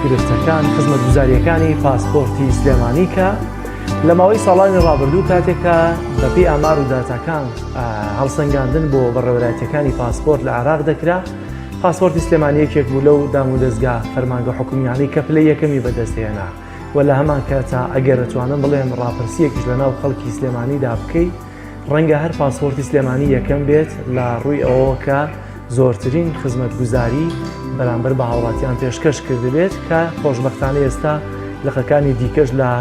گرفتەکان خزمەتگوزاریەکانی پاسپۆرتی سلێمانی کە لە ماوەی ساڵانی ڕابردوو کاتێکە بەپی ئامار و داتاکان هەڵسەنگاندن بۆ بەڕێوەراتەکانی پاسپۆرت لە عراق دەکرا پاسپۆرتی سلێمانیەکێک بوو لەو دام و دەستگا فەرمانگە حکومیانی کە پلی یەکەمی بەدەستێنا و لە هەمان کاتا ئەگەرتوانم بڵێم ڕاپرسیەکیش لە ناو خەڵکی سلێمانیدا بکەیت ڕەنگە هەر پاسپۆرتی سلێمانی یەکەم بێت لە ڕووی ئەوەوە کە زۆرترین خزمەت گوزاری بەرامبەر بە هاوڵاتیان پێشکەش کردبێت کە خۆشببختانە ئێستا لقەکانی دیکەش لە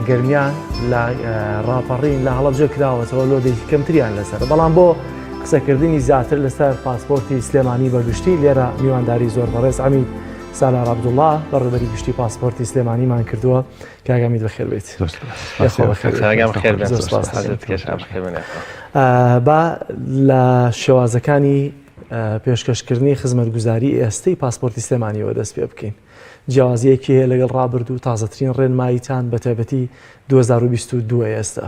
گرمیان لە ڕاپەڕین لە هەڵەبجە کراوەتەوە لۆ دەیکی کەمتریان لەسەر بەڵام بۆ قسەکردنی زیاتر لەسەر پاسپۆرتی سلێمانی بەگشتی لێرە میوانداری زۆر بەڕێز ئەمین سالار عبدوڵا بەڕێبەری گشتی پاسپۆرتی سلێمانیمان کردووە کاک ئەمیر بەخێر بێیت با لە شێوازەکانی پێشکەشکردنی خزمەتگوزاری ئێستەی پاسپۆرتی سلێمانیەوە دەست پێ بکەین جیازیەکی هەیە لەگەڵ ڕابرد و تازەترین ڕێنماییتان بە تایبەتی 2022 ئێستا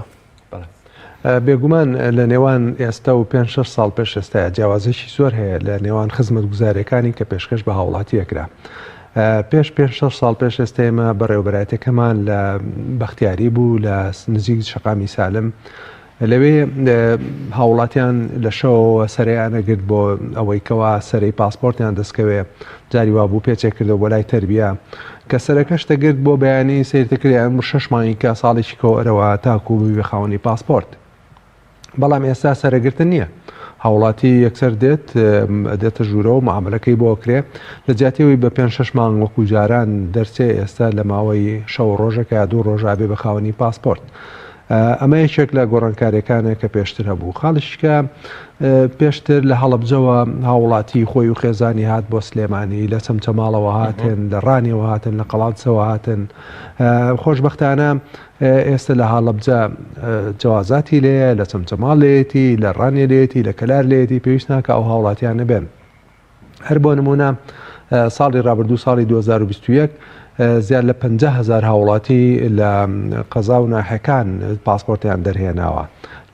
بێگومان لە نێوان ئێستا و پێنج شەش ساڵ پێش ئێستاە جیاوازێکی زۆر هەیە لە نێوان خزمەت گوزارەکانی کە پێشکەش بە هاوڵاتیەکرا. پێش پێ شە ساڵ پێش ئێستێمە بەڕێوبەراتەکەمان لە بەختیاری بوو لە نزیک شقامی سالم لەوێ هاوڵاتیان لە شەوەوە سەریانەگرت بۆ ئەوەی کەوا سەری پاسپۆرتیان دەستکەوێ جاری وابوو پێچێکردەوە بۆ لای تربیە کە سەرەکەش تەگرت بۆ بەیانی سەیرتە کرێ ئەمر شەش مانگی کە ساڵێکی کۆئرەوە تاکو ببی خاوەنی پاسپۆرت بەڵام ئێستا سەرەگرتن نییە هاوڵاتی یەکسەر دێت دێتە ژوورەوە معاملەکەی بۆ کرێ لە جیاتیەوەی بە پێنج شەش مانگ وەکو جاران دەرچێ ئێستا لە ماوەی شەو ڕۆژەکە دوو ڕۆژابێ بە خاوەنی پاسپۆرت ئەمە یەکێک لە گۆڕانکارییەکانە کە پێشتر هەبوو. خاڵی شکە پێشتر لە هەڵەبجەوە هاووڵاتیی خۆی و خێزانی هات بۆ سلێمانی، لە چەمچەماڵەوە هاتن، لە ڕانیەوە هاتن، لە قەڵادسەوە هاتن. خۆشبەختانە ئێستە لە هاڵەبجە جەوازاتی لێیە، لە چەمچەماڵ لێیەتی، لە ڕانیە لێیەتی، لە کەلار لێیەتی، پێویست ناکا ئەو هاووڵاتییانە بێن. هەر بۆ نموونە ساڵی ڕابردوو ساڵی 2021 زیاد لە 50 هزار هاوڵاتی لە قەزا و ناحەکان پاسپۆرتیان دەرهێناوە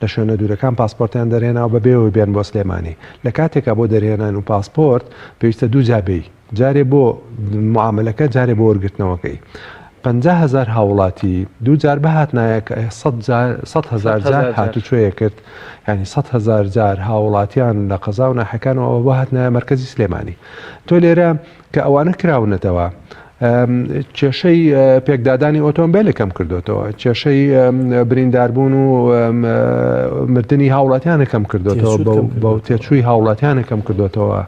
لە شوێنە دوورەکان پاسپۆرتیان دەرهێناوە بە بێەوەی بێن بۆ سلێمانی لە کاتێکا بۆ دەرهێنان و پاسپۆرت پێویستە دوو جابی جارێ بۆ معاملەکە جارێ بۆ وەرگرتنەوەکەی پەنجا هەزار هاوڵاتی دوو جار بهاتنایە کە ئەیە سەد جار سەد هەزار جار هاتوچۆیە کرد یانی سەد هەزار جار هاوڵاتیان لە قەزا و ناحەکانەوە ئەوە بهاتنایە مەرکەزی سلێمانی تۆ لێرە کە ئەوانە کراونەتەوە کێشەی پێکدادانی ئۆتۆمبیلە کەم کردوێتەوە کێشەی برینداربوون و مردنی هاوڵاتیانە کەم کردوێتەوە بەو تێچووی هاوڵاتیانە کەم کردوێتەوە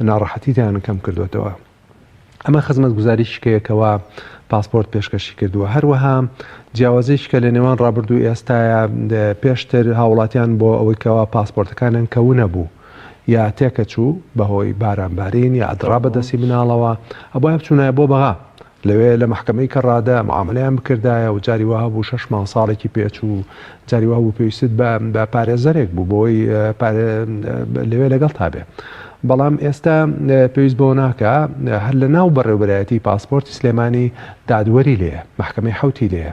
ناڕەحەتیتیان کەم کردوێتەوە ئەمە خزمەتگوزاری شکەیە کەوا پاسپۆرت پێشکەشی کردووە. هەروەها جیاوازی شکە لە نێوان ڕابردوو ئێستاە پێشتر هاوڵاتیان بۆ ئەوەی کەوا پاسپۆرتەکانیان کەونە بوو یا تێکە چوو بەهۆی باران بارین یا ئەدڕا بەدەستی مناڵەوە ئەبوای بچوونایە بۆ بەغا لەوێ لە محکمەی کە ڕادە معاملیان بکردایە و جاری وهبوو شش مانگ ساڵێکی پێچوو جاری وابوو پێویستت بە پارێزەرێک بوو بۆی لەوێ لەگەڵتا بێ بەڵام ئێستا پێویست بۆ ناکە هەر لە ناو بەڕێوبەرایەتی پاسپۆرتی سلێمانی دادوەری لێ محکمەی حوتی لێ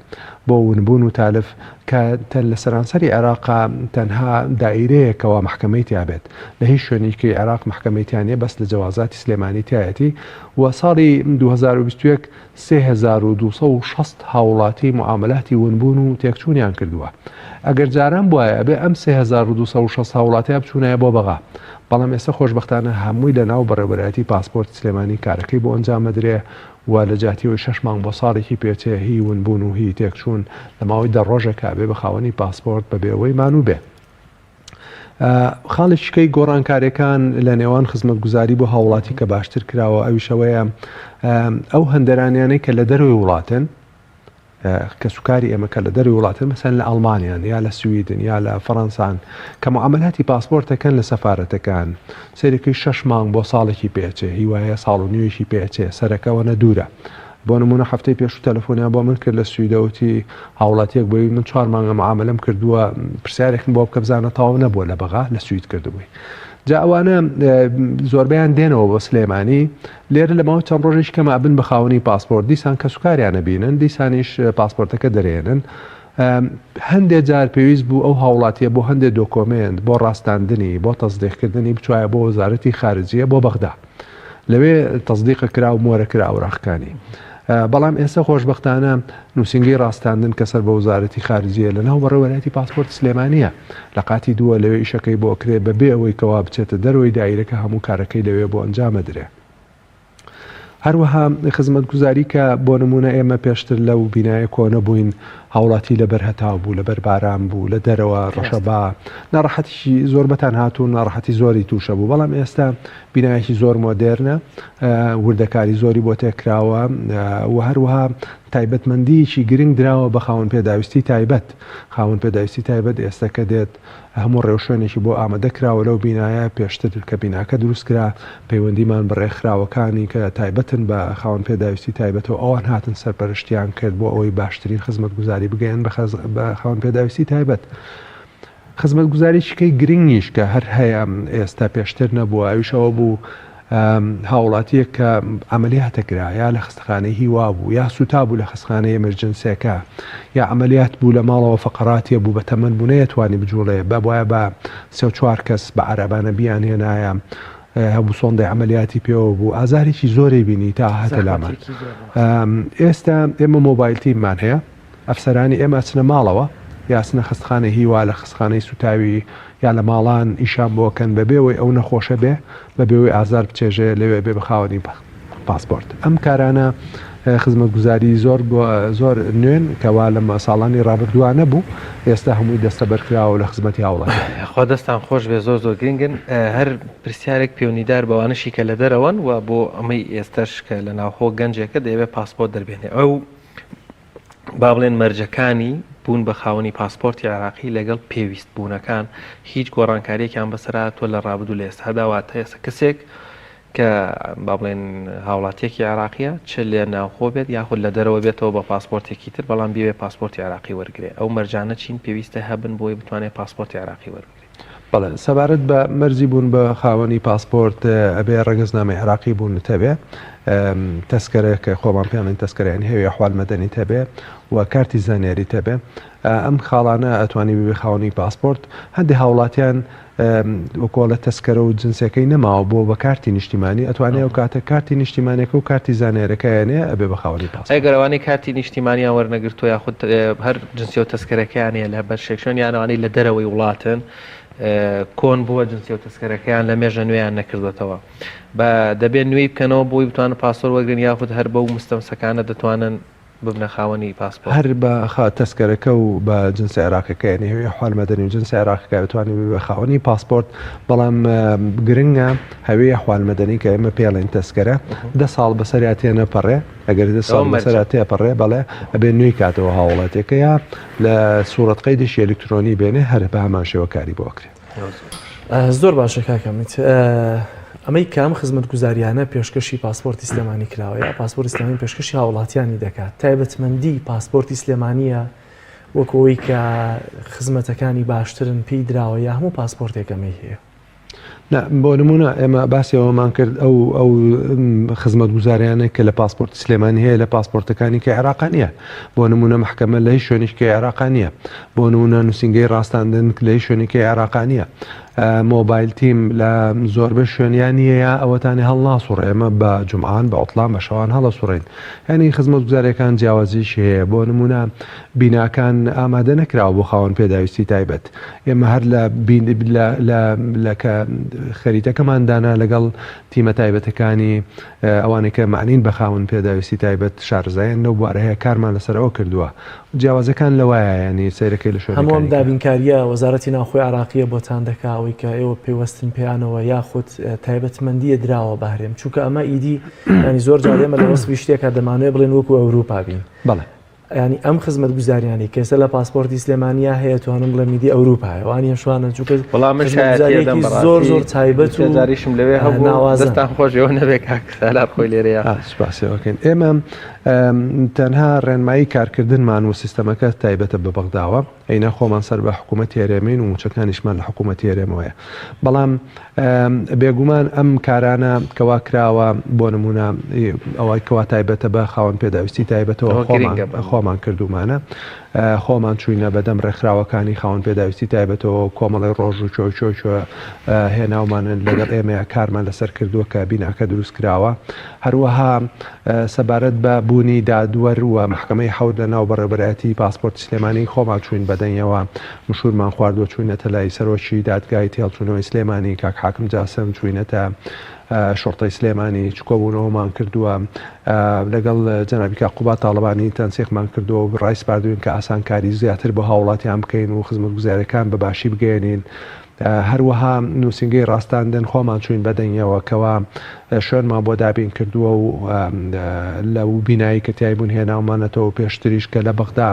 بۆ ونبوون و تالف کە تەن لە سەرانسەری عێراق تەنها دایرەیەکەوە محکمەی تیابێت لە هیچ شوێنیکی عێراق محکمەیتیانە بەس لە جەوازاتی سلێمانی تایەتی و ساڵی 2021 سێ هەزار و دوو سەد و شەست هاوڵاتی موعامەلاتی ونبوون و تێکچوونیان کردووە. ئەگەر جاران بوایە ئەبێ ئەم سێ هەزار و دوو سەد و شەست هاوڵاتیە بچوونایە بۆ بەغا. بەڵام ئێستا خۆشبەختانە هەمووی لە ناو بەڕێوەبەرایەتی پاسپۆرت سلێمانی کارەکەی بۆ ئەنجام ئەدرێ و لە جیاتی ئەوەی شەش مانگ بۆ ساڵێکی پێچێ هی ونبوون و هی تێکچوون لە ماوەی دە ڕۆژێکا ئەبێ بە خاوەنی پاسپۆرت بەبێ ئەوەی مانوو بێ خاڵێکی دیکەی گۆڕانکارییەکان لە نێوان خزمەتگوزاری بۆ هاوڵاتی کە باشتر کراوە ئەویش ئەوەیە ئەو هەندەرانیانەی کە لە دەروی وڵاتن کەسوکاری ئێمە کە لە دەروی وڵاتن مەسەن لە ئەڵمانیان یا لە سویدن یا لە فەڕەنسان کە معاملاتی پاسپۆرتەکەن لە سەفاەتەکان سەرەکەی شش مانگ بۆ ساڵێکی پێچێ هیوایە ساڵ و نوێژی پێچێ سەرەکەەوە نە دوورە بۆ نموونە هەفتەی پێشوو تەلەفۆنیان بۆ من کرد لە سویدە وتی هاوڵاتیەک بووی من چوار مانگە معاملەم کردووە پرسیارێکم بۆ بکە بزانە تاو نەبووە لە بەغا لە سوید کردبووی جا ئەوانە زۆربیان دێنەوە بۆ سلێمانی لێرە لە ماوە چەند ڕۆژیش کەمە ئەبن بە خاونی پاسپۆرت دیسان کە سوکاریانە بینن دیسانیش پاسپۆرتەکە دەرێنن هەندێک جار پێویست بوو ئەو هاوڵاتیە بۆ هەندێک دۆکۆمنت بۆ ڕاستاندنی بۆ تەزدێکردنی بچایە بۆ وەزارەتی خارجیە بۆ بەغدا لەوێ تەسدیق کرا و مۆرە کرا ئەوراقەکانی. بەڵام ئێستا خۆشبەختانە نووسینگەی ڕاستاندن کە سەر بە وەزارەتی خارجییە لە ناو بەڕێوەرایەتی پاسپۆرت سلێمانییە لە قاتی دووە لەوێ ئیشەکەی بۆ ئەکرێ بە بێ ئەوەی کەوا بچێتە دەرەوەی دایرەکە هەموو کارەکەی لەوێ بۆ ئەنجام ئەدرێ. هەروەها خزمەتگوزاری کە بۆ نموونە ئێمە پێشتر لەو بینایە کۆنە بووین هاوڵاتی لەبەر هەتاو بوو لەبەر باران بوو لە دەرەوە ڕەشەبا ناڕەحەتیی زۆر بەتان هاتوو ناڕەحەتی زۆری تووشە بوو بەڵام ئێستا بینایەکی زۆر مۆدێرنە، وردەکاری زۆری بۆ تێکراوە و هەروەها تایبەتمەندییەکی گرنگ دراوە بە خاوەن پێداویستی تایبەت. خاوەن پێداویستی تایبەت ئێستە کە دێت، هەموو ڕێوشوێنێکی بۆ ئامادە کراوە لەو بینایە، پێشتر کە بیناکە دروست کرا، پەیوەندیمان بە ڕێکخراوەکانی کە تایبەتن بە خاوەن پێداویستی تایبەتەوە، ئەوان هاتن سەرپەرشتیان کرد بۆ ئەوەی باشترین خزمەتگوزاری بگەیەنن بە خاوەن پێداویستی تایبەت. خزمەتگوزاریی گرنگیش کە هەر هەیە ئێستا پێشتر نەبووە ئەویش ئەوە بوو هاوڵاتییەک کە عەمەلیاتە کرا یا لە خستەخانەی هیوا بوو یا سوتا بوو لە خستخانەی ئێمرجنسیەکە یا عەمەلیات بوو لە ماڵەوە فەقەراتیە بوو بە تەمەن بوو نەیەتوانی بجوڵێ با بوایە بە سێ و چوار کەس بە عەرەبانە بیانهێنایە هەموو سۆندەی عملیاتی پێوە بوو ئازارێکی زۆری بینی تا هاتە لامان ئێستا ئێمە مۆبایلتیمان هەیە ئەفسەرانی ئێمە ئەچنە ماڵەوە یا ئەچنە خەستخانەی هیوا لە خەستخانەی سوتاوی یا لە ماڵان ئیشان بۆ ئەکەن بە بێ وەی ئەو نەخۆشە بێ بە بێ وەی ئازار بچێژێ لەوێ بێ بە خاوەنی پاسپۆرت ئەم کارانە خزمەتگوزاری زۆر زۆر نوێن کەوا لە ساڵانی ڕابردووە نەبوو ئێستا هەمووی دەستە بەرکراوە لە خزمەتی هاوڵات خوا دەستان خۆش بێ زۆر زۆر گرنگن هەر پرسیارێک پێونیدار بەوانشی کە لە دەرەوەن و بۆ ئەمەی ئێستش کە لە ناوخۆ گەنجێکە دەیەوێت پاسپۆرت دەربێنێ ئەو با بڵێن مەرجەکانی بوون بە خاوەنی پاسپۆرتی عێراقی لەگەڵ پێویست بوونەکان هیچ گۆڕانکاریەکیان بەسەرهاتووە لە ڕابدوو لە ئێستادا واتە ئێستا کەسێک کە با بڵێن هاوڵاتیەکی عراقیە چ لێ ناوخۆ بێت یاخود لە دەرەوە بێتەوە بە پاسپۆرتێکی تر بەڵام بێ پاسپۆرتی عراقی وەرگێ ئەو مەرجانە چین پێویستە هەبن بۆی بتوانێت پاسپۆرتی عراقی وەرگێ بەڵێ سەبارەت بە مەرجی بوون بە خاوەنی پاسپۆرت ئەبێ ڕەگەزنامەی عێراقی بوونت هەبێ تەسکەرە کە خۆمان پێڵین تەسکەرەیان هەوێ حال مەدەنی تەبێ و کارتی زانیاری تەبێ ئەم خاڵانە ئەتوانی ببێ خاوەنی پاسپۆرت هەندی هاوڵاتیان وەکۆڵە تەسکەرە و جنسەکەی نەماوە بۆ بە کارتی نیشتیمانی ئەتوانێت و کاتە کارتی نیشتیمانەکە و کارتی زانیارەکەیانێ ئەبێ بە خاوەنی پاس ئەگەرەوانی کارتی نیشتیمانیان وەرنەگرتو یاخود هەر جنسیە و تەسکەرەکەیان هەیە لە بەر شێکشوێن یان ئەوانەی لە دەرەوەی وڵاتن کۆن بووە جنسیە و تەسکەرەکەیان لە مێژە نوێیان نەکردوەتەوە بە دەبێت نوێی بکەنەوە بۆی بتوانن پاسۆر وەگرن یاخود هەر بەو مستەمسەکانە دەتوانن ببنە خاوەنی پاسپۆرت. هەر بە خا تەسکەرەکە و بە جنسە عێراقیەکە یانی هەوێ حال مەدەنی و جنسە عێراقیەکە بتوانێت ببێ خاوەنی پاسپۆرت بەڵام گرنگە هەوێ حال مەدەنی کە ئێمە پێڵێن تەسکەرە دە ساڵ بەسەریا تێنەپەڕێ ئەگەر دە ساڵ لەسەرا تێپەڕێ بەڵێ ئەبێ نوێی کاتەوە هاوڵاتیەکە یا لە سوڕەت قەیدێکی ئەلیکترۆنی بێنێ هەر بە هەمان شێوە کاری بۆ ئەکرێ. زۆر باشە کاکە میت. ئەمەی کام خزمەت گوزاریانە پێشکەشی پاسپۆرتی سلێمانی کراوە یا پاسپۆرتی سلێمانی پێشکەشی هاوڵاتیانی دەکات تایبەتمەندی پاسپۆرتی سلێمانیە وەکەوەی کە خزمەتەکانی باشترن پێی دراوە یا هەموو پاسپۆرتێکەمەی هەیە. نا، بۆ نموونە ئێمە باسی ئەوەمان کرد ئەو ئەو خزمەتگوزاریانە کە لە پاسپۆرتی سلێمانی هەیە لە پاسپۆرتەکانی کە عێراقا نییە بۆ نموونە محکەمە لە هیچ شوێنیش کە عێراقا نییە بۆ نموونە نووسینگەی ڕاستاندن لە هیچ شوێنی کە عێراقا نییە مۆبایل تیم لە زۆربەی شوێنیان نییە ئەوەتانی هەڵناسوڕ ئێمە بە جمعان بە عوتڵان بە شەوان هەڵە سوڕین یعنی خزمەتگوزارەکان جیاوازیش هەیە بۆ نمونە بیناکان ئامادە نەکراوە بۆ خاوەن پێداویستی تایبەت. ئێمە هەر لە لە کە خەریتەکەمان دانا لەگەڵ تیمە تایبەتەکانی ئەوانەی کە مەعنین بە خاوەن پێداویستی تایبەت شارەزایان لەو بوارە هەیە کارمان لەسەر ئەوە کردووە جیاوازەکان لەوایە یانی سەیرەکەی لە شوێنەکانی هەموو ئەم دابینکارییە وەزارەتی ناوخۆی عێراقییە بۆتان دەکا ئەوەی کە ئێوە پەیوەستن پێیانەوە یاخود تایبەتمەندییە دراوە بە هەرێم چونکە ئەمە ئیدی یانی زۆر جار ئێمە لە وەسفی شتێکە دەمانەوێ بڵێن وەکوو ئەوروپا بین. بەڵێ. یانی ئەم خزمەتگوزاریانەی کە ئێستا لە پاسپۆرتی سلێمانیا هەیە توانم بڵێم میدی ئەوروپایە وانە شوانە چووکە بەڵام من شایەتێدەم زۆر زۆر تایبەت و جاریشم لەوێ هەبوو ناوازەتان خۆشەوە نەبێ کاکسالار خۆی لێرەیە سوپاسەوەکەین ئێمە تەنها ڕێنمایی کارکردنمان و سیستەمەکە تایبەتە بە بەغداوە ئەینا خۆمان سەر بە حکوومەت هێرێمین و مووچەکانیشمان لە حکوومەت هێرێمەوەیە. بەڵام بێگوومان ئەم کارانە کەوا کراوە بۆ نموونە ئەوەی کەوا تایبەتە بە خاوەن پێداویستی تایبەتەوە خۆمان خۆمان کردوومانە. خۆمان چووینە بەدەم ڕێکخراوەکانی خاوەن پێداویستی تایبەتەوە و کۆمەڵی ڕۆژ و چۆی چۆی چۆ هێناومانن لەگەڵ ئێمەیە کارمان لەسەر کردووە کە بیناکە دروست کراوە. هەروەها سەبارەت بە بوونی دادوەر و مەحکەمەی حەوت لە ناو بەڕێوەبەرایەتیی پاسپۆرتی سلێمانی خۆمان چووین بە دەنگیەوە مشوورمان خواردووە چووینەتە لای سەرۆکی دادگای تێهەڵچوونەوەی سلێمانی کاک حاکم جاسم چووینەتە شوڕتەی سلێمانی چکۆبوونەوەمان کردووە لەگەڵ جەنابی کاک قوباد تاڵەبانی تەنسیقمان کردووە و ڕایسپاردووین کە ئاسانکاری زیاتر بۆ هاوڵاتیان بکەین و خزمەتگوزاریەکان بە باشی بگەیەنین هەروەها نووسینگەی ڕاستاندن خۆمان چووین بە دەنگیەوە کەوا شوێنمان بۆ دابین کردووە و لەو بینایی کە تیای بوون هێناومانەتەوە پێشتریش کە لە بەغدا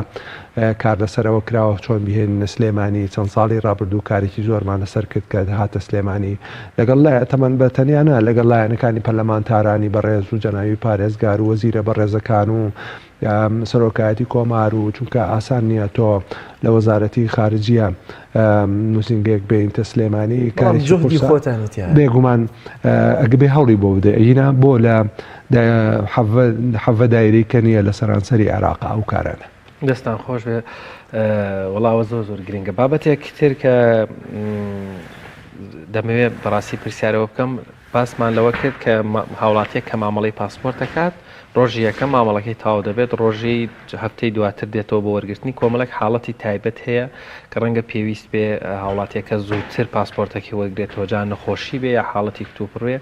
کار لەسەرەوە کراوە چۆن بهێنینە سلێمانی چەند ساڵی ڕابردوو کارێکی زۆرمان لەسەر کرد کە هاتە سلێمانی لەگەڵ لای تەمەن بە تەنیانا لەگەڵ لایەنەکانی پەرلەمانتارانی بەڕێز و جەناوی پارێزگار و وەزیرە بەڕێزەکان و سەرۆکایەتی کۆمار و چونکە ئاسان نیە تۆ لە وەزارەتی خارجیە نووسینگەیەک بینتە سلێمانی بێگومان ئەگبێ هەڵی بۆ بدە ئەینا بۆ لە حەڤە دایری کە نیە لە سەرانسەری عێراق ئەو کارانە دەستان خۆش بێ وڵاوە زۆر زۆر گرنگە بابەتێک تر کە دەمەوێت بەڕاستی پرسیارەوە بکەم باسمان لەوە کرد کە هاوڵاتییەک کە مامەڵەی پاسپۆرت دەکات، ڕۆژی یەکەم مامەڵەکەی تەواو دەبێت، ڕۆژی هەفتەی دواتر دێتەوە بۆ وەرگرتنی، کۆمەڵێک حاڵەتی تایبەت هەیە کە ڕەنگە پێویست بێ هاوڵاتییەکە زووتر پاسپۆرتەکەی وەرگرێتەوە، جا نەخۆشی بێ یا حاڵەتی کتوپڕ بێ،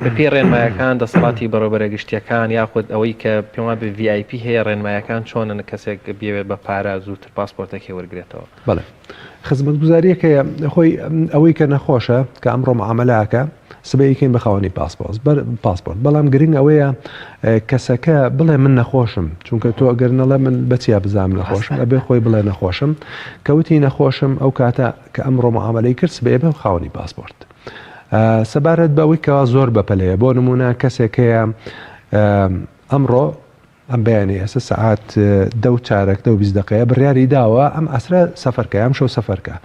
بەپێی ڕێنمایەکان دەسەڵاتی بەڕێوەبەرە گشتییەکان یاخود ئەوەی کە پێم وابێ VIP هەیە ڕێنمایەکان چۆنن کەسێک بیەوێت بە پارە زووتر پاسپۆرتەکەی وەرگرێتەوە؟ بەڵێ خزمەتگوزاریەک هەیە خۆی ئەوەی کە نەخۆشە کە ئەمڕۆ معاملاکە سبەیکەین بە خاوەنی پاسپۆس بەر پاسپۆرت بەڵام گرنگ ئەوەیە کەسەکە بڵێ من نەخۆشم چونکە تۆ ئەگەر نەڵێ من بەچیا بزانام نەخۆشم ئەبێ خۆی بڵێ نەخۆشم کەوتی نەخۆشم ئەو کاتە کە ئەمڕۆ معاملەی کرد سبەیە بە خاوەنی پاسپۆرت سەبارەت بەوەی کەوا زۆر بەپەلەیە بۆ نمونە کەسێکەیە ئەمڕۆ ئەم بەیانەی ئێستا سەعات دە و چارەک دە و بیست دەقەیە بڕیاری داوە ئەم عەسرە سەفەر کە ئەمشەو سەفەر کە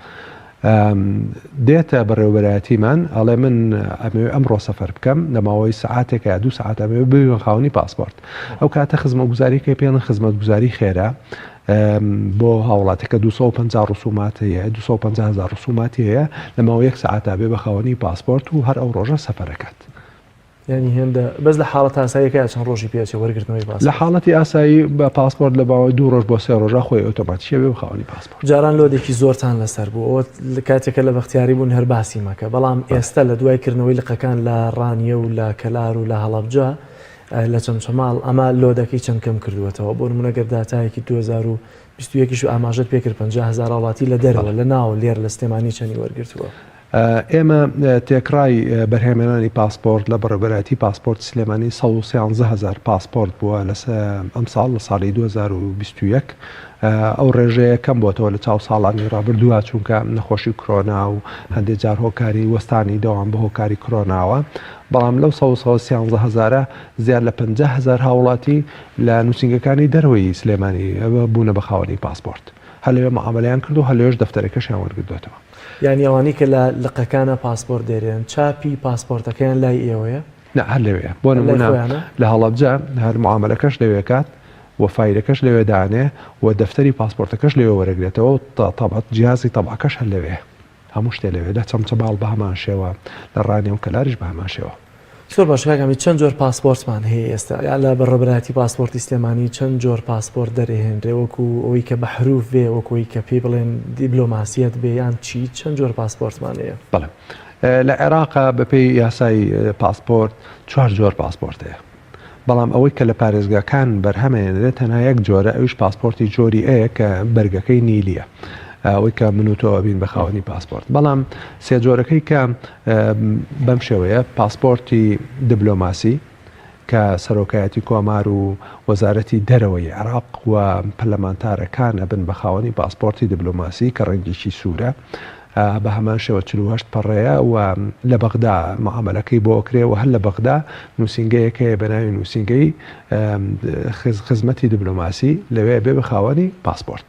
دێتە بەڕێوەبەرایەتیمان ئەڵێ من ئەمەوێ ئەمڕۆ سەفەر بکەم لە ماوەی سەعاتێک یا دوو سەعات ئەمەوێ ببێن خاوەنی پاسپۆرت ئەو کاتە خزمەتگوزاری کە پێڵن خزمەتگوزاری خێرا بۆ هاوڵاتەکە 250 ڕسومات هەیە 250 هزار ڕسوماتی هەیە لە ماوە یەک سەعاتا بێ بە خاوەنی پاسپۆرت و هەر ئەو ڕۆژە سەفەرەکەت یانی هێندە بەس لە حاڵەت ئاساییەکەیا چەند ڕۆژی پێ ئەچێ وەرگرتنەوەی پاسپۆرت؟ لە حاڵەتی ئاسایی بە پاسپۆرت لە ماوەی دوو ڕۆژ بۆ سێ ڕۆژا خۆی ئۆتۆماتیکیە بێ بە خاوەنی پاسپۆرت. جاران لۆدێکی زۆرتان لەسەر بوو ئەوە کاتێک کە لە بەختیاری بوون هەر باسی مەکە بەڵام ئێستە لە دوای کردنەوەی لقەکان لە ڕانیە و لە کەلار و لە هەڵەبجە لە چەمچەماڵ ئەمە لۆدەکەی چەند کەم کردووەتەوە بۆ نموونە گەر داتایەکی دوو هەزار و بیست و یەک ئیش ئاماژەت پێ کرد پەنجا هەزار هاوڵاتی لە دەرەوە لە ناوە لێرە لە سلێمانی چەنی وەرگرتووە؟ ئێمە تێکڕای بەرهەمێنانی پاسپۆرت لە بەڕێوبەرایەتی پاسپۆرتی سلێمانی سەد و سیانزە هەزار پاسپۆرت بووە لە ئەمساڵ لە ساڵی دوو هەزار و بیست و یەک ئەو ڕێژەیە کەم بۆتەوە لە چاو ساڵانی ڕابردووە چونکە نەخۆشی کرۆنا و هەندێک جار هۆکاری وەستانی دەوام بە هۆکاری کرۆناوە بەڵام لەو سەد و سیانزە هەزارە زیاد لە پەنجا هەزار هاوڵاتی لە نووسینگەکانی دەرەوەی سلێمانی بوونە بە خاوەنی پاسپۆرت هەر لەوێ معامەلەیان کرد و هەر لەوێش دەفتەرەکەشیان وەرگردووەتەوە. یانی ئەوانەی کە لە لقەکانا پاسپۆرت دەیرێن چاپی پاسپۆرتەکەیان لای ئێوەیە؟ نا هەر لەوێیە بۆ نموونە لە هەڵەبجە هەر معامەلەکەش لەوێ کات و فایلەکەش لەوێ دانێ و دەفتەری پاسپۆرتەکەش لەوێ وەرەگرێتەوە و تەبع جیازی تەبعەکەش هەر لەوێیە هەموو شتێ لەوێ لە چەمچەماڵ بە هەمان شێوە لە ڕانیە و کەلاریش بە هەمان شێوە. زۆر باش کاک حەمید چەند جۆر پاسپۆرتمان هەیە ئێستا یا لە بەڕێوەبەرایەتی پاسپۆرتی سلێمانی چەند جۆر پاسپۆرت دەرێهێنرێ وەکو ئەوەی کە بە حروف بێ وەکو ئەوەی کە پێی بڵێن دیبلۆماسیەت بێ یان چی چەند جۆر پاسپۆرتمان هەیە؟ بەڵێ لە عێراق بەپێی یاسای پاسپۆرت چوار جۆر پاسپۆرت هەیە بەڵام ئەوەی کە لە پارێزگاکان بەرهەمەیەنرێت تەنها یەک جۆرە ئەویش پاسپۆرتی جۆری ئەیە کە بەرگەکەی نیلیە ئەوەی کە من و تۆ ئەبین بە خاوەنی پاسپۆرت بەڵام سێ جۆرەکەی کە بەم شێوەیە پاسپۆرتی دبلۆماسی کە سەرۆکایەتی کۆمار و وەزارەتی دەرەوەی عێراق و پەرلەمانتارەکان ئەبن بە خاوەنی پاسپۆرتی دبلۆماسی کە ڕەنگێکی سوورە بە هەمان شێوە چل و هەشت پەڕەیە و لە بەغدا معامەلەکەی بۆ ئەکرێ و هەر لە بەغدا نووسینگەیەک هەیە بە ناوی نووسینگەی خزمەتی دبلۆماسی لەوێ ئەبێ بە خاوەنی پاسپۆرت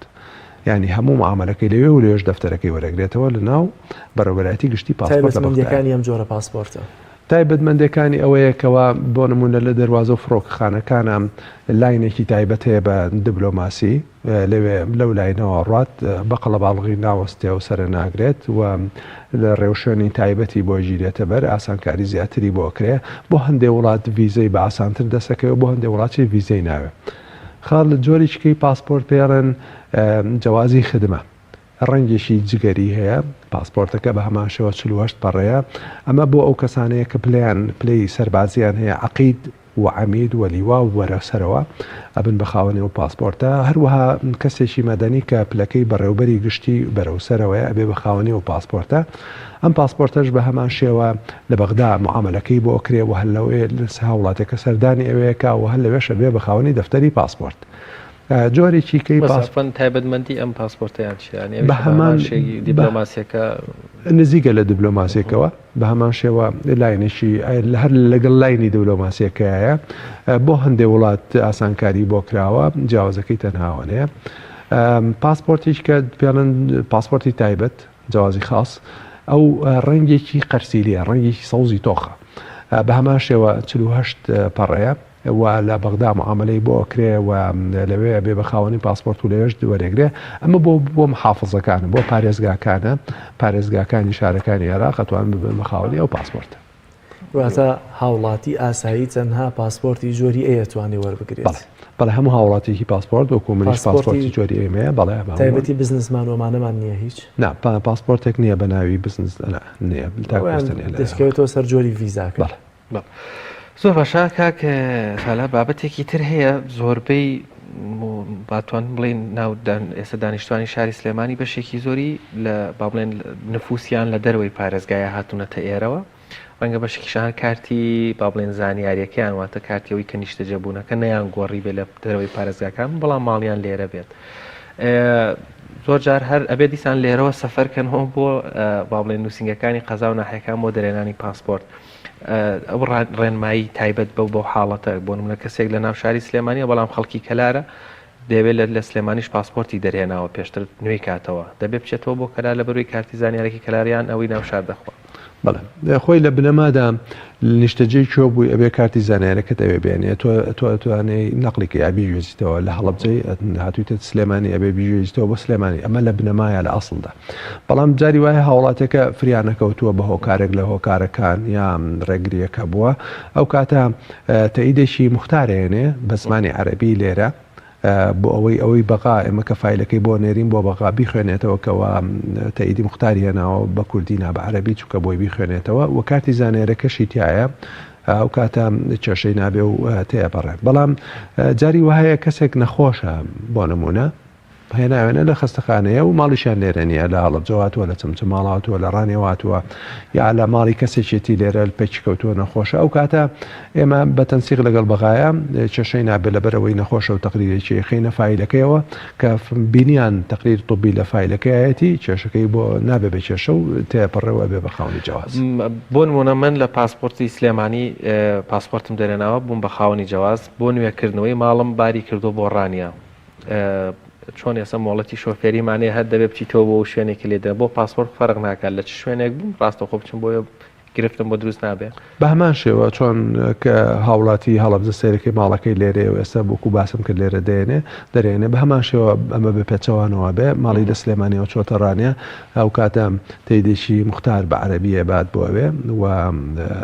یانی هەموو معامەلەکەی لەوێ و لەوێش دەفتەرەکەی وەرەگرێتەوە لە ناو بەڕێوەبەرایەتی گشتی پاسپۆرت لە بەغدا. تایبەتمەندییەکانی ئەم جۆرە پاسپۆرتە؟ تایبەتمەندییەکانی ئەوەیە کەوا بۆ نموونە لە دەروازە و فڕۆکەخانەکانا لاینێکی تایبەت هەیە بە دبلۆماسی، لەوێ لەو لاینەوە ڕات بە قەڵەباڵغی ناوەستێ و سەرناگرێت و ڕێوشوێنی تایبەتی بۆ گیرێتە بەر، ئاسانکاری زیاتری بۆ ئەکرێ، بۆ هەندێ وڵات ڤیزەی بە ئاسانتر دەست ئەکەوێ و بۆ هەندێ وڵاتیش ڤیزەی ناوێ. خاڵ جۆریچکەی پاسپۆرت پێڵێن جوازی خدمە، ڕەنگێکی جگەری هەیە، پاسپۆرتەکە بە هەمان شێوە چل و هەشت پەڕەیە، ئەمە بۆ ئەو کەسانەیە کە پلەیان پلەی سەربازییان هەیە، عەقید و عەمید و لیوا و وەرە سەرەوە ئەبن بە خاوەنی ئەو پاسپۆرتە، هەروەها کەسێکی مەدەنی کە پلەکەی بەڕێوبەری گشتی بەرەو سەرەوەیە ئەبێ بە خاوەنی ئەو پاسپۆرتە، ئەم پاسپۆرتەش بە هەمان شێوە لە بەغدا معامەلەکەی بۆ ئەکرێ و هەر لە هاوڵاتێکە سەردانی ئەوێ ئەکا و هەر لەوێش ئەبێ بە خاوەنی دەفتەری پاسپۆرت. جۆرێکی کەی پاسپۆرت تایبەتمەندی ئەم پاسپۆرتەیان چیە یانی بە هەمان شێگی دیبلۆماسیەکە نزیکە لە دیبلۆماسیەکەوە بە هەمان شێوە لاینێکی هەر لەگەڵ لاینی دیبلۆماسیەکەیە بۆ هەندێک وڵات ئاسانکاری بۆ کراوە جیاوازەکەی تەنهاوەەیە پاسپۆرتیش کە پێڵن پاسپۆرتی تایبەت جیازی خاص ئەو ڕەنگێکی قەرسیلیە ڕەنگێکی سەوزی تۆخە بە هەمان شێوە 48 پەڕەیە و لە بەغدا معامەلەی بۆ ئەکرێ و لەوێ ئەبێ بە خاوەنی پاسپۆرت و لەوێش وەرئەگرێ ئەمە بۆ بۆ محافزەکانە بۆ پارێزگاکانە پارێزگاکانی شارەکانی عێراق ئەتوان ببن بە خاوەنی ئەو پاسپۆرتە واتە هاوڵاتی ئاسایی تەنها پاسپۆرتی جۆری ئەی ئەتوانێ وەربگرێت بەڵێ هەموو هاوڵاتیکی پاسپۆرت وەکو منیش پاسپۆرتی جۆری ئێمەیە بەڵێ تایبەتی بزنسمان وەمانەمان نییە هیچ نا پاسپۆرتێک نییە بە ناوی بزنس نییە دەستکەوێتەوە سەر جۆری ڤیزاکە زۆر باشە کاک سالار بابەتێکی تر هەیە زۆربەی باتوان بڵین ناودان ئێستا دانیشتوانی شاری سلێمانی بەشێکی زۆری لە با بڵێن نفوسیان لە دەروەی پارێزگایە هاتوونەتە ئێرەوە ڕەنگە بەشکیشان کارتی با بڵێن زانیاریەکەیان واتە کارتیەوەی کە نیشتە جەبوونەکە نەیان گۆڕی بێ لە دەروەی پارێزگاکان بەڵام ماڵیان لێرە بێت. زۆر جار هەر ئەبێ دیسان لێرەوە سەفەرکەنەوە بۆ با بڵێن نووسنگەکانی قەزا و ناحەکان بۆ دەرێنانی پاسپۆرت. ئەو ڕێنمایی تایبەت بەو بەو حاڵەتە بۆ نمونە کەسێک لە ناو شاری سلێمانیە بەڵام خەڵکی کەلارە دەوێت لە لە سلێمانیش پاسپۆرتی دەرهێناوە پێشتر نوێی کاتەوە دەبێت بچێتەوە بۆ کەلار لە بەروی کارتی زانیارێکی کەلاریان ئەوەی ناو شار دەخوا بەڵێ خۆی لە بنەمادا نیشتەجێی کوێ بووی ئەبێ کارتی زانیارەکەت ئەوێ بێنێ تۆ تۆ ئەتوانێ نەقلیکە یا بیگوێزیتەوە لە هەڵبجەی هاتوویتە سلێمانی ئەبێ بیگوێزیتەوە بۆ سلێمانی ئەمە لە بنەمایە لە ئەاصلدا بەڵام جاری وایە هاوڵاتیەکە فریانەکەوتووە بە هۆکارێک لە هۆکارەکان یا ڕێگریەکە بووە ئەو کاتە تەئیدێکی مختارێنێ بە زمانی عەربی لێرە بۆ ئەوەی ئەوەی بەغا ئێمە کە فیلەکەی بۆ نێرین بۆ بەغا بیخوێنێتەوە کەەوە تەئیدی مختاری هێناوە بە کوردی نابە عەربی چووکە بۆی بیخوێنێتەوە و کارتی زانێرەکەشی تایە ئەو کاتە کێشەی نابێ و تێپەڕێ بەڵام جاری وهەیە کەسێک نەخۆشە بۆ نمونە هێناوێنە لە خەستەخانەیە و ماڵیشیان لێرە نییە، لە هەڵەبجە هاتووە، لە چەمچەماڵ هاتووە، لە ڕانێو هاتووە یا لە ماڵی کەسێکێتی لێرە پێکی کەوتووە نەخۆشە، ئەو کاتە ئێمە بە تەنسیق لەگەڵ بەغایە کێشەی نابێت لەبەرئەوەی نەخۆشە و تەقریرێکی ئەیخەینە فایلەکەیەوە کە بینیان تەقریر طبی لە فایلەکەیایەتی کێشەکەی بۆ نابێت بە کێشە و تێپەڕێ و ئەبێ بە خاوەنی جەواز. بۆ نموونە من لە پاسپۆرتی سلێمانی پاسپۆرتم دەرێناوە بووم بە خاوەنی جەواز، بۆ نوێکردنەوەی ماڵم باری کردووە بۆ ڕانیە، چۆن ئێسە مۆڵەتی شۆفێری مانێ هەر دەبێ بچیتەوە بۆ شوێنێکی لێدە بۆ پاسپۆرت فەرق ناکات لە چ شوێنێک بووم ڕاستەخۆ بچم بۆ گرفتم بۆ دروست نابێ بە هەمان شێوە چۆن کە هاوڵاتی هەڵەبزە سەیرەکەی ماڵەکەی لێرێ و ئێستا بۆکو باسم کرد لێرە دێنێ دەرێنێ بە هەمان شێوە ئەمە بە پێچەوانەوە بێ ماڵی لە سلێمانیەوە چۆتە ڕانێ هاوکاتە تەیدێکی موختار بە عەرەبی ئەبات بۆ ئەوێ و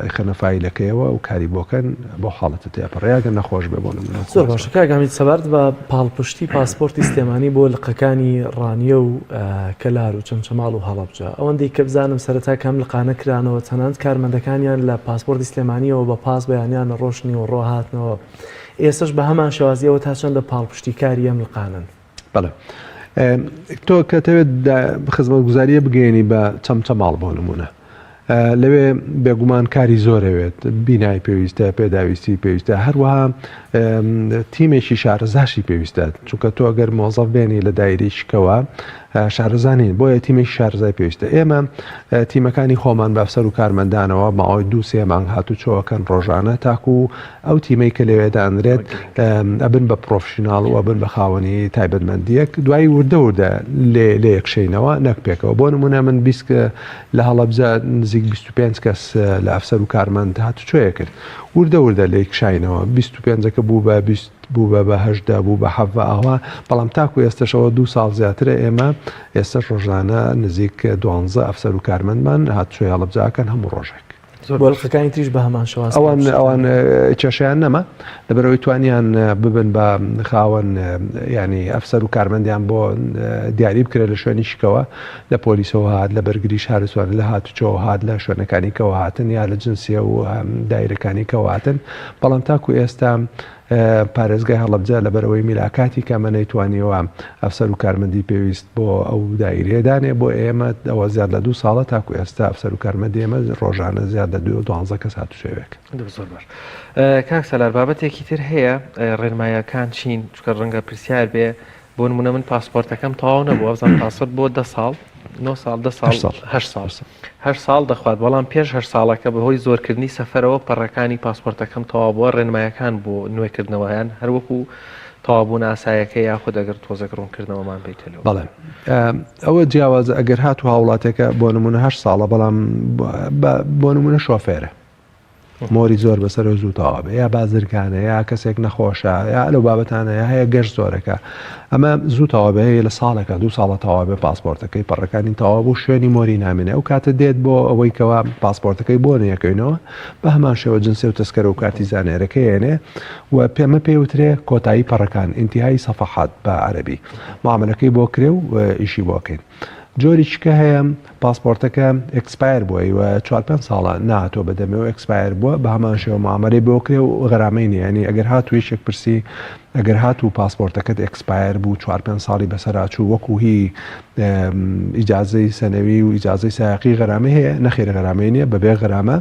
ئەیخەنە فایلەکەیەوە و کاری بۆ کەن بەو حاڵەتە تێپەڕێ ئەگەر نەخۆش بێ بۆ نمونە. زۆر باشە کاک حەمید سەبارەت بە پاڵپشتی پاسپۆرتی سلێمانی بۆ لقەکانی ڕانیە و کەلار و چەمچەماڵ و هەڵەبجە ئەوەندەی کە بزانم سەرەتا کە ئەم لقانە کرانەوە تەنانەت کارمەندەکانیان لە پاسپۆرتی سلێمانیەوە بە پاس بەیانیان ڕۆشت نیوەڕۆ هاتنەوە ئێستەش بە هەمان شێوازی ئەوە تا چەندە پاڵپشتی کاری ئەم لقانەن؟ بەڵێ تۆ کەتەوێت خزمەتگوزاریە بگەێنی بە چەمچەماڵ بۆ نمونە لەوێ بێگومان کاری زۆرەوێت بینای پێویستە پێداویستی پێویستە هەروەها تیمێکی شارەزاشی پێویستە چونکە تۆ گەر مۆزەف بێنی لە دایری شکەوە شارزانین بۆیە تیمی شارزای پێویستە ئێمە تیمەکانی خۆمان بەفسەر و کارمەندانەوە ماوەی دو سێ مانگ هاتو چۆکەن ڕۆژانە تاکو ئەو تیمەی کە لەوێ دانرێت ئەبن بە پرۆفشیناڵ و ئەبن بە خاوەنی تایبەتمەندییەک دوای وردە وردە لێکشێینەوە نەک پێکەوە بۆ نمونە من بیست لە هەڵەبجە نزیک 25 کەس لە ئەفسەر و کارمەند هاتوچۆیە کرد وردە وردە لێک کشاینەوە 25ەکە بوو بە بوو بە بەهشدا بوو بە حەڤ ئاوا بەڵام تاکو ئێستشەوە دوو ساڵ زیاترە ئێمە ئێستا ڕۆژانە نزیک دوانزە ئەفسەر و کارمەندمان هاتوچۆی هەڵبجاکەن هەموو ڕۆژێک بۆلخەکانی تریش بە هەمان شواز ئەوان ئەوان کێشیان نەما لەبەرەوەی توانیان ببن بە خاوەن ینی ئەفسەر و کارمەندیان بۆ دیاری بکرێت لە شوێنی شکەوە لە پۆلیسەوە هاات لە بەرگری شارسوان لە هاتوچەوە هاات لە شوێنەکانی کەواتن یا لە جنسیە و دایرەکانی کەواتن بەڵام تاکو ئێستا پارێزگای هەڵەبجە لەبەرئەوەی میلاکاتی کەمە نەیتوانیوە ئەفسەر و کارمەندی پێویست بۆ ئەو دایرەیە دانێ بۆ ئێمە ئەوە زیاد لە دوو ساڵە تاکو ئێستا ئەفسەر و کارمەندی ئێمە ڕۆژانە زیاد لە دوێ دوانزە کەس هاتوچۆێک زۆر باش کاک سەلار بابەتێکی تر هەیە ڕێنمایەکان چین چکە ڕەنگە پرسیار بێ بۆ نمونە من پاسپۆرتەکەم تەواو نەبوو ئەزان پاسپۆرت بۆ دە ساڵ نۆ ساڵ دە ساڵ هەر ساڵ هەر ساڵ دەخوات بەڵام پێش هەر ساڵەکە بەهۆی زۆرکردنی سەفەرەوە پەڕەکانی پاسپۆرتەکەم تەواو بووە ڕێنمایەکان بۆ نوێکردنەوەیان هەروەکو تەوابوون ئاسایەکە یاخود ئەگەر تۆزەک ڕوونکردنەوەمان بیتەوە بەڵێ ئەوە جیاوازە ئەگەر هاتو هاوڵاتەکە بۆ نمونە هەر ساڵە بەڵام بۆ نمونە شۆفێرە مۆری زۆر بەسەرە زوو تەواو بێ یا بازرگانە یا کەسێک نەخۆشە یا لەو بابەتانە یا هەیە گەشت زۆرەکە ئەمە زوو تەواو بێ لە ساڵەکە دوو ساڵە تەواو بێ پاسپۆرتەکەی پەڕەکانی تەواو بوو شوێنی مۆری نامێنێ ئەو کاتە دێت بۆ ئەوەی کەوا پاسپۆرتەکەی بۆ نەکەینەوە بە هەمان شێوە جنسێ و تەسکەرە و کارتی زانێرەکە یێنێ و پێمە پێوترێ کۆتایی پەڕەکان ئینتیهایی سەفەحات بە عەرەبی معاملەکەی بۆ کرێ و ئیشی بۆکەین جۆریکە هەیە پاسپۆرتەکە ئەکسپایر بووە و چوار پێنج ساڵە ناتۆ بەدەمێ و ئەکسپایر بووە بە هەمان شێوە معامەلەی بۆ کرێ و غەرامەی نیانی ئەگەر هات و یەکێک پرسی ئەگەر هات و پاسپۆرتەکەت ئەکسپایر بوو چوار پێنج ساڵی بەسەراچوو وەکو هی ئیجازەی سەنەوی و ئیجازەی سایقی غەرامەی هەیە نەخێرە غەرامەی نیە بەبێ غەرامە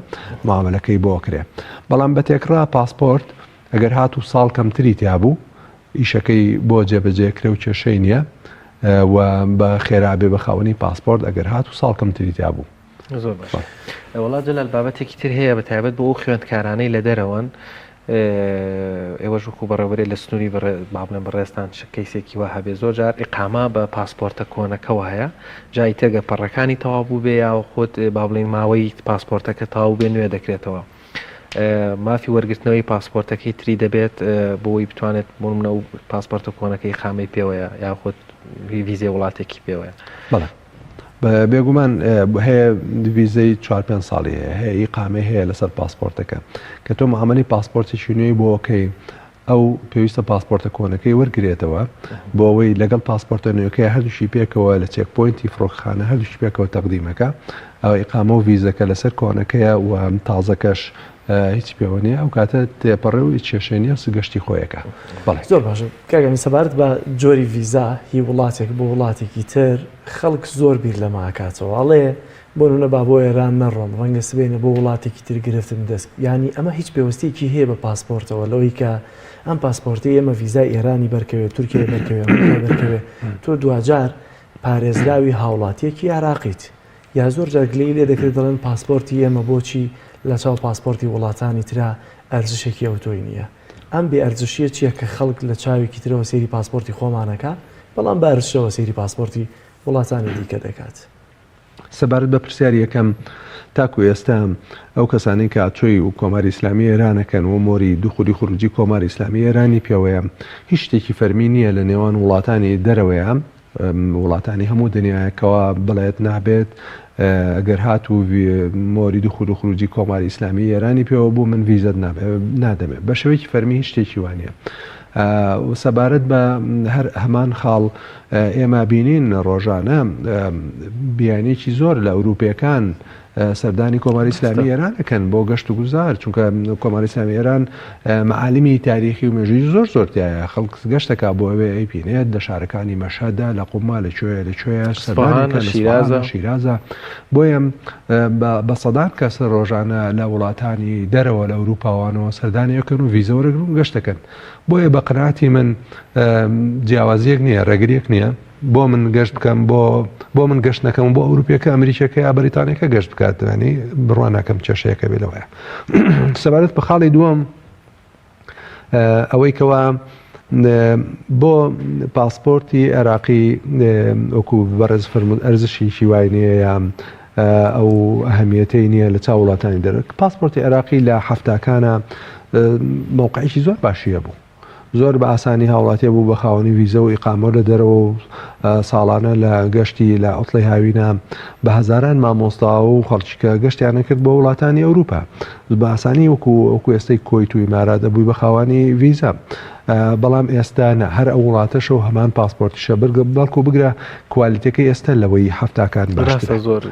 معامەلەکەی بۆ کرێ بەڵام بە تێکڕا پاسپۆرت ئەگەر هاتوو ساڵ کەمتری تیابوو ئیشەکەی بۆ جێبەجێ کرێ و کێشەی نییە و بە خێرا بێ بە خاوەنی پاسپۆرت ئەگەر هاتوو ساڵ کەمتری تیابوو. زۆر باش وەڵا جەلال بابەتێکی تر هەیە بە تایبەت بۆ ئەو خوێندکارانەی لە دەرەوەن ئێوەش وکو بەڕێوەێ لە سنووری بابلێن بەڕێستان کەیسێکی وە هەبێ زۆر جار ئقاما بە پاسپۆرتە کۆنەکەەوە هەیە جای تێگە پەڕەکانی تەواو بوو بێ یاوە خۆت با بڵین ماوەی پاسپۆرتەکە تاو بێ نوێ دەکرێتەوە مافی وەرگرتنەوەی پاسپۆرتەکەی تری دەبێت بۆی بتوانێت بۆ منە و پاسپۆرتە کۆنەکەی خامەی پێوەیە یاخود ویزێ وڵاتێکی پێوەیە بێگومان هەیە ویزەی 4 پێ ساڵی هەیە هەیە ئی قامێ هەیە لەسەر پاسپۆرتەکە کە تۆ معاملی پاسپۆرتێکی نوێی بۆکەی ئەو پێویستە پاسپۆرتە کۆنەکەی وەرگرێتەوە بۆ ئەوەی لەگەڵ پاسپۆرتە نوێکەی هەردووشی پێکەوە لە چێک پۆینتی فڕۆکخانە هەردووشی پێکەوە تەقدیمەکە ئەو ئیقامە و ڤیزەکە لەسەر کۆنەکەیە و تازەکەش هیچ پێوە نیە ئەو کاتە تێپەڕێ و کێشێنی و سگەشتی خۆیەکە بەڵێ زۆر باش کاگەمی سەبارەت بە جۆری ڤیزا هی وڵاتێک بۆ وڵاتێکی تر خەڵک زۆر بیر لەماکاتەوە ئەڵێ بۆ نمونە با بۆ ئێران نەڕۆم ڕەنگە سبەینێ بۆ وڵاتێکی تر گرفتم دەست یانی ئەمە هیچ پێوستیەکی هەیە بە پاسپۆرتەوە لەوەی کە ئەم پاسپۆرتی ئێمە ڤیزای ئێرانی بەرکەوێت تورکیای بەرکەوێت بەرکەوێت تۆ دواجار پارێزراوی هاوڵاتیەکی عێراقیت یا زۆر جارگلەی لێ دەکرێت دەڵێن پاسپۆرتی ئێمە بۆچی لە چاو پاسپۆرتی وڵاتانی ترا ئەرزشێکی ئەوتۆی نییە ئەم بێ ئەرزشیە چییە کە خەڵک لە چاوێکی ترەوە سێری پاسپۆرتی خۆمانەکە بەڵام بارشەوە سێری پاسپۆرتی وڵاتانی دیکە دەکات سەبارەت بە پرسیاری یەکەم، تاکو ئێستا ئەو کەسانەی کە ئاچۆی کۆماری ئیسلامی ئێرانەکەن و مۆری دوخولی خروجی کۆماری ئیسلامی ئێرانی پێوەیە، هیچ شتێکی فەرمی نییە لە نێوان وڵاتانی دەرەوەیە، وڵاتانی هەموو دنیایە کەوا بڵێت نابێت، گەر هاتوو مۆری دوخول خروجی کۆماری ئیسلامی ئێرانی پێوە بوو من ڤیزەت نادەمێ، بە شێوەیەکی فەرمی هیچ شتێکی وا نییە. و سەبارەت بە هەر هەمان خاڵ ئێمە بینین ڕۆژانە بیانیەکی زۆر لە ئەوروپیەکان سەردانی کۆماری ئیسلامی ئێران ئەکەن بۆ گەشت و گوزار چونکە کۆماری ئیسلامی ئێران معالیمی تاریخی و مێژوی زۆر زۆرتیایە خەڵک گەشتەکە بۆ ئەوێ ئەیبینێت لە شارەکانی مەشهدا لە قوما لە کوێ لە کوێ سەردانی کە لە شیرازە شیرازە بۆیە بە سەدان کەس ڕۆژانە لە وڵاتانی دەرەوە لە ئەوروپاوانەوە سەردانی ئەکەن و ڤیزە وەرەگرن و گەشتەکەن بۆیە بە قەناتی من جیاوازیەک نییە ڕێگریەک نییە بۆ من گەشت بکەم بۆ بۆ من گەشت نەکەم بۆ ئەوروپیەکە ئەمریکەکە یا بەریتانەکە گەشت بکاتوانی بڕوانەکەم کێشەیەەکە بێ لەوەیە سەبارەت بە خاڵی دووەم ئەوەی کەوا بۆ پاسپۆرتی عێراقی وەکو بەڕێز فەرمود ئەرزشی هیوای نیە یا ئەو ئەهمیەتەی نییە لە چا وڵاتانی دەرێت پاسپۆرتی عێراقی لە هەفتاکانە مووقعیشی زۆر باشیە بوو زۆر بە ئاسانی هاوڵاتیە بوو بە خاوەنی ویزە و ئیقامۆ لە دەرەوە و ساڵانە لە گەشتی لە ئۆتڵی هاوینە بە هەزاران مامۆستا و خەڵکیکە گەشتیانە کرد بۆ وڵاتانی ئەوروپا بە ئاسانی وەکو وەکو ئێستەی کۆیت و ئیمارات ئەبووی بە خاوەنی ڤیزا بەڵام ئێستا نە هەر ئەو وڵاتەشە و هەمان پاسپۆرتیشە بەرگە بەڵکو بگرە کوالیتەکەی ئێستا لەوەی هەفتاکان باشترە زۆر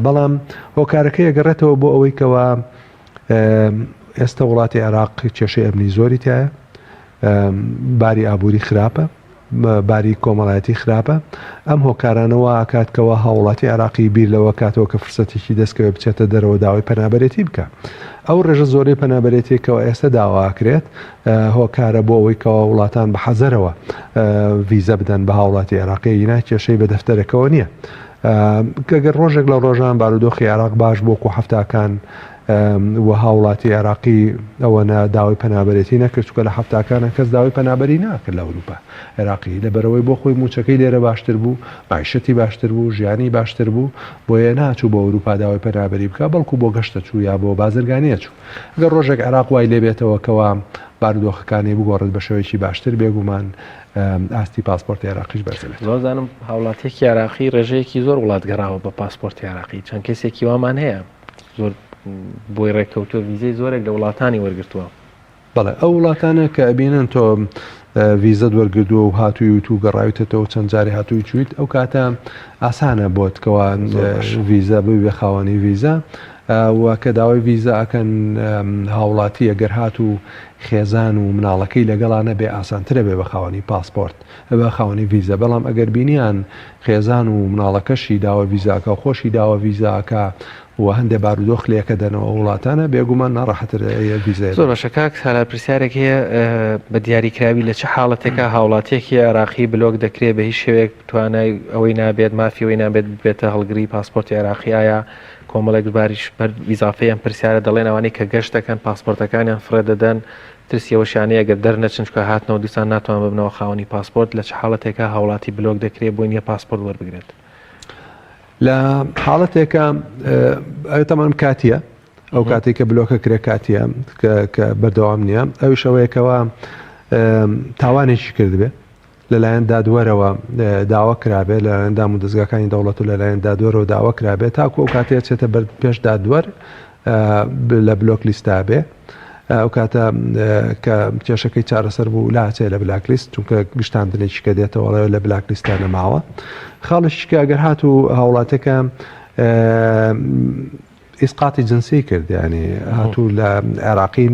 بەڵام هۆکارەکە ئەگەڕێتەوە بۆ ئەوەی کەەوە ئێستا وڵاتی عێراق کێشەی ئەمنی زۆری تایە باری ئابووری خراپە باری کۆمەڵایەتی خراپە، ئەم هۆکارانە وا ئەکات کەوا هاووڵاتی عێراقی بیر لەوە کاتەوە کە فرسەتێکی دەستکەوێ بچێتە دەرەوە داوای پەنابەرێتی بکا. ئەو ڕێژە زۆرەی پەنابەرێتیە کەوا ئێستە داوا ئەکرێت هۆکارە بۆ ئەوەی کەوا وڵاتان بە حەزەرەوە ڤیزە بدەن بە هاوڵاتی عێراقی ینا کێشەی بە دەفتەرەکەەوە نییە. گەگەر ڕۆژێک لە ڕۆژان بارودۆخی عێراق باش بۆ و حفتاکان و هاوڵاتی عێراقی ئەوەنە داوای پەنابەرێتی نەکرد چونکە لە حەفتاکانا کەس داوای پەنابەری ناکرد لە ئەوروپا عێراقی لەبەرەوەی بۆ خۆی موچەکەی لێرە باشتر بوو مەعیشەتی باشتر بوو ژیانی باشتر بوو بۆیە ناچوو بۆ ئەوروپا داوای پەنابەری بکە بەڵکو بۆ گەشتە چوو یا بۆ بازرگانیە چوو گەر ڕۆژێک عێراق وای لێبێتەوە کەوا بارودۆخەکانی بگۆڕێت بە شێوەیەکی باشتر بێگومان ئاستی پاسپۆرت عێراقیش بەرزبێت زۆزانم هاوڵاتێکی عراقی ڕێژەیەکی زۆر وڵات گەڕاوە بە پاسپۆرت عراقی چەند کەسێکی وامان هەیە زۆر بۆی ڕێککەوتوە ویزەی زۆرێک لە وڵاتانی وەرگتووە بەڵێ ئەو وڵاتانە کە ئەبینن تۆ ویزەت وەرگردووە و هاتووی و تو گەڕاویتەوە چەند جاری هاتووی چیت ئەو کاتە ئاسانە بۆت کەوا ویزە ببێ خاوەنی ویزە و کە داوای ویزە ئەکەن هاوڵاتی ئەگەر هات و خێزان و مناڵەکەی لەگەڵانە بێ ئاسانترە بێ بە خاوەنی پاسپۆرت بە خاوەنی ویزە بەڵام ئەگەر بینیان خێزان و مناڵەکەشی داوە ڤیزاکە خۆشی داوە ڤیزاکە و هەندێ بارودۆخ لەکە دەنەوە وڵاتانە بێگومان ناڕەحەتر ئەیە ڤیزای زۆر باشە کاک سالار پرسیارێک هەیە بە دیاری کراوی لە چ حاڵەتێکا هاوڵاتیەکی عێراقی بلۆک دەکرێ بە هیچ شێوەیەک توانای ئەوەی نابێت مافی ئەوەی نابێت ببێتە هەڵگری پاسپۆرتی عێراقی ئایا کۆمەڵێک دووباریش بەر ئیزافەی ئەم پرسیارە دەڵێن ئەوانەی کە گەشت دەکەن پاسپۆرتەکانیان فڕێ دەدەن ترسی ئەوە شانەیە گەر دەرنەچن چونکە هاتنەوە دیسان ناتوان ببنەوە خاوەنی پاسپۆرت، لە چ حاڵەتێکا هاوڵاتی بلۆک دەکرێت بۆی نیە پاسپۆرت وەربگرێت؟ لە حاڵەتێکا ئەوێ تەمەن کاتیە ئەو کاتێک کە بلۆکە کرێ کاتیە کە بەردەوام نییە ئەویش ئەوەیەکەوە تاوانێکی کردبێ لەلایەن دادوەرەوە داوا کرابێت، لەلایەن دامودەزگاکانی دەوڵەت و لەلایەن دادوەرەوە داوا کرابێت، تاکو ئەو کاتەیە چێتە بەر پێش دادوەر لە بلۆک لیستا بێ. ئەو کاتە کە کێشەکەی چارەسەر بوو لاچێ لە بلاک لیست چونکە گشتاندنێکی کە دێتەوەڵەوە لە بلاک لیستا نەماوە خاڵشکە گەر هات و هاوڵاتەکە ئیسقاتی جنسی کرد یانی هاتوو لە عێراقی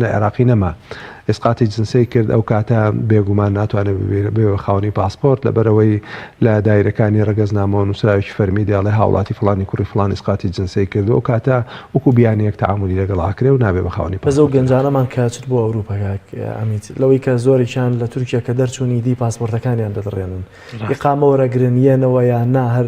لە عێراقی نەما ئیسقاتی جنسی کرد ئەو کاتە بێگومان ناتوانێت بێ خاونی پاسپۆرت لە بەرەوەی لە دایرەکانی ڕگەزنامەوە نووسراوێکی فەرمی دێڵێ هاوڵاتی فلانی کوڕی فلان ئیسقاتی جنسی کرد ئەو کاتە وکو بیانیەک تعاملی لەگەڵ ئاکرێ و نابێ بە خاونی پاس ئەو گەنجانەمان کاچت بۆ ئەوروپا ئەمیت لەوەی کە زۆرێکیان لە تورکیا کە دەرچوونی دی پاسپۆرتەکانیان دەدڕێنن ئقامەوەرەگرن یەنەوە یان نا هەر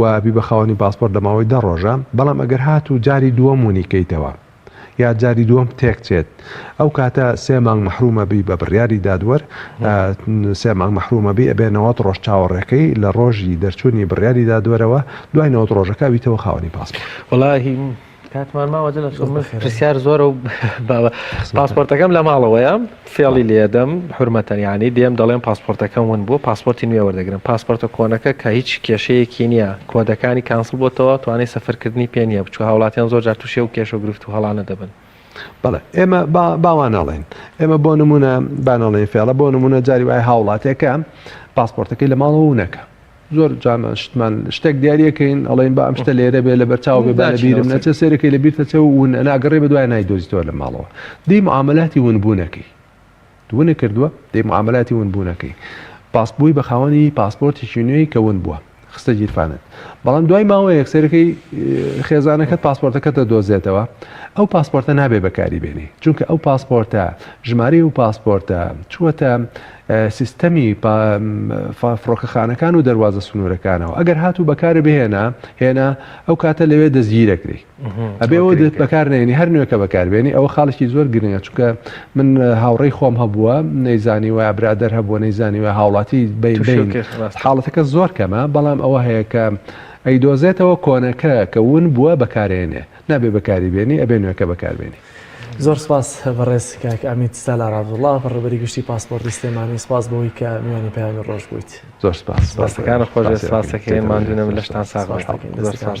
و بیبە خاوەنی پاسپۆرت لە ماوەی دە ڕۆژە، بەڵام ئەگەر هاتوو جاری دووەم ونی کەیتەوە یا جاری دووەم تێک چێت ئەو کاتە سێ مانگ مەحروم ئەبی بە بڕیاری دادوەر سێ مانگ مەحروم ئەبی ئەبێ نەوەد ڕۆژ چاوەڕێکەی لە ڕۆژی دەرچوونی بڕیاری دادوەرەوە دوای نەوەد ڕۆژەکە ئەبیتەوە خاوەنی پاسپۆرت. کاتمان ماوە جل اشکم من خێرە. پرسیار زۆرە و باوە پاسپۆرتەکەم لە ماڵەوەیە فێڵی لێدەم حورمەتەن یانی دێم دەڵێم پاسپۆرتەکەم ون بووە پاسپۆرتی نوێ وەردەگرم پاسپۆرتە کۆنەکە کە هیچ کێشەیەکی نییە کۆدەکانی کانسڵ بۆتەوە توانای سەفەرکردنی پێ نییە بچوو هاوڵاتیان زۆر جار تووشی و کێشە و گرفت و هەڵانە دەبن بەڵێ ئێمە باوانەڵێن ئێمە بۆ نمونە بانەڵێن فێڵە بۆ نمونە جاری وای هاوڵاتێکە پاسپۆرتەکەی لە ماڵەوە نەکە زۆر جارمان شتمان شتێک دیارە کەین ئەڵێن با ئەم شتە لێرە بێ لە بەرچاو بێ با لە بیرم نەچێ سێرەکەی لە بیرتە چێ و ون ئەناگەڕێ بە دوای نایدۆزیتەوە لە ماڵەوە دەی معاملاتی ونبوونەکەی ونە کردووە دەی معاملاتی ونبوونەکەی پاسبووی بە خاوەنی پاسپۆرتێکی نوێی کە ون بووە خستە گیرفانت بەڵام دوای ماوە یەکسەرەکەی خێزانەکەت پاسپۆرتەکەتە دۆزێتەوە ئەو پاسپۆرتە نابێ بەکاری بێنی چونکە ئەو پاسپۆرتە ژمارەی و پاسپۆرتە چووەتە سیستەمی فڕۆکەخانەکان و دەروازە سنوورەکانەوە ئەگەر هاتوو بەکارە بهێنا هێنا ئەو کاتە لەوێ دەستگیرەکری ئەبێەوە دێت بەکارنێنی هەر نوێکە بەکاربێنی ئەوە خاڵێکی زۆر گرنگە چونکە من هاوڕێی خۆم هەبووە نەیزانی وە برادەر هەبووە نەیزانی وە هاوڵاتی بین حاڵەتەکە زۆر کەمە بەڵام ئەوە هەیە کە ئەیدۆزێتەوە کۆنەکە کە ون بووە بەکارێنێ نابێ بەکاری بێنی ئەبێ نوێەکە بەکاربێنی زۆر سپاس بەڕێز کاک ئەمیت سالار عەبدوڵا بەڕێوەبەری گشتی پاسپۆرتی سلێمانی سپاس بەوەی کە میوانی پەیامی ڕۆژ بوویت. زۆر سپاس. دەستەکانت خۆش بێت سپاس دەکەین ماندوو نەبن لەشتان ساغ بێت زۆر سپاس.